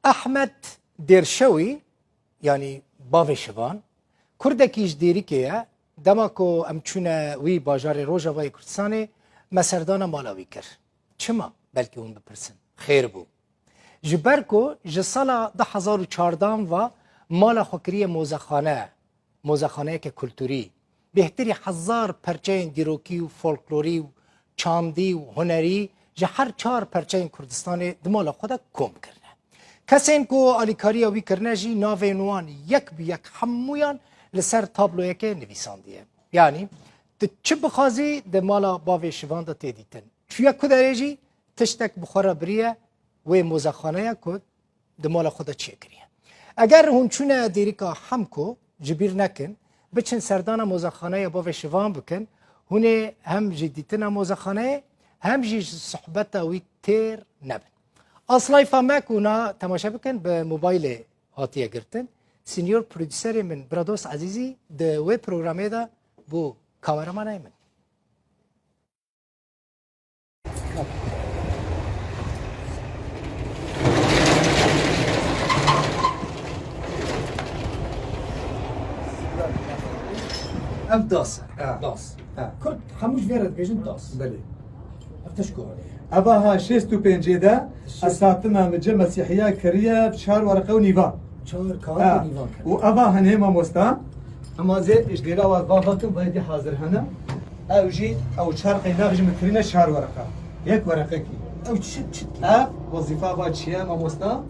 Ehmed Dêrşewî yanî Bavê Şivan kurdekî ji Dêrikê ye. Dema ku em çûne wî bajarê Rojava yê Kurdistanê me serdana mala wî kir. Çima? Belkî hûn bipirsin. Xêr bû. Ji ber ku ji sala du hezar û çardan ve mala xwe kiriye mozexane, mozexaneyeke kulturî. Bêhtirî hezar perçeyên dîrokî û folklorî û çandî û hunerî ji her çar perçeyên Kurdistanê di mala xwe de kom kirine. Kesên ku alîkariya wî kirine jî navên wan yek bi yek hemûyan li ser tabloyekê nivîsandiye. Yanî tu çi bixwazî di mala bavê şivan de tê dîtin. Çûye ku derê jî tiştek bi xwe re biriye wê mozexaneya ku Di mala xwe de çi kiriye? Eger hûn çûne dêrika Hemko ji bîr nekin, biçin serdana mozexaneya bavê şivan bikin, hûnê hem ji dîtina mozexaneyê hem jî ji sohbeta wî têr nebin. Aslayfa me ku na temaşe bikin bi mobaylê hatiye girtin. Senior produserê min Brados Ezîzî di wê programê de bû kameramanê min. Ev das. Das. Kurd hemû ji vê re dibêjin das. Belê. Ev teşko re. Eva ha şêst û pêncê de esatina min cê mesîhiya kiriye çar werqe û nîvan. Çar kar û nîvan. Û eva hinê mamosta Hema zê îşgera war va hatin va yekê hazir hene. Ew jî ew çar qeynak jî min kirîne çar wereqa. Yek wereqekî. Ew çi çi dike? Ev wezîfa va çi ye mamosta?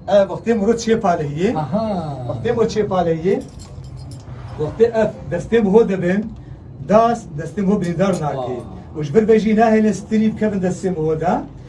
Ev wextê muro çê paleyî. Aha. Wextê muro çê paleyî. Wextê ev destê muro dibin. Das destê muro birîndar nakê. Û ji vir vê jî nahêlin strî bikevin destê muro de.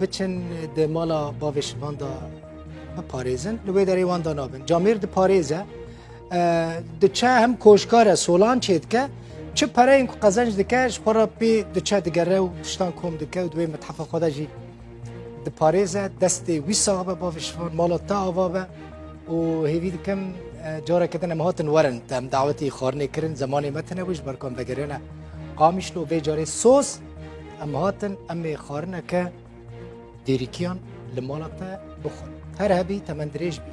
Biçin di mala bavê şivan de biparêzin. Li wê derê wan da nabin. Camêr diparêze. Diçe hem koşkare solan çê dike. Çi pereyên ku qezenc dike ji xwe re pê diçe digere û tiştan kom dike û duê mithafa xwe de jî diparêze destê wî sax be bavê şivan mala te ava be û hêvî dikim careke din em hatin werin te em dawetî xwarinê kirin zemanê me tine wî ji ber ku em vegeriyane qamişlo vê carê soz Em hatin em ê xwarineke dêrîkiyan li mala te bixwin. Her hebî temendirêj bî.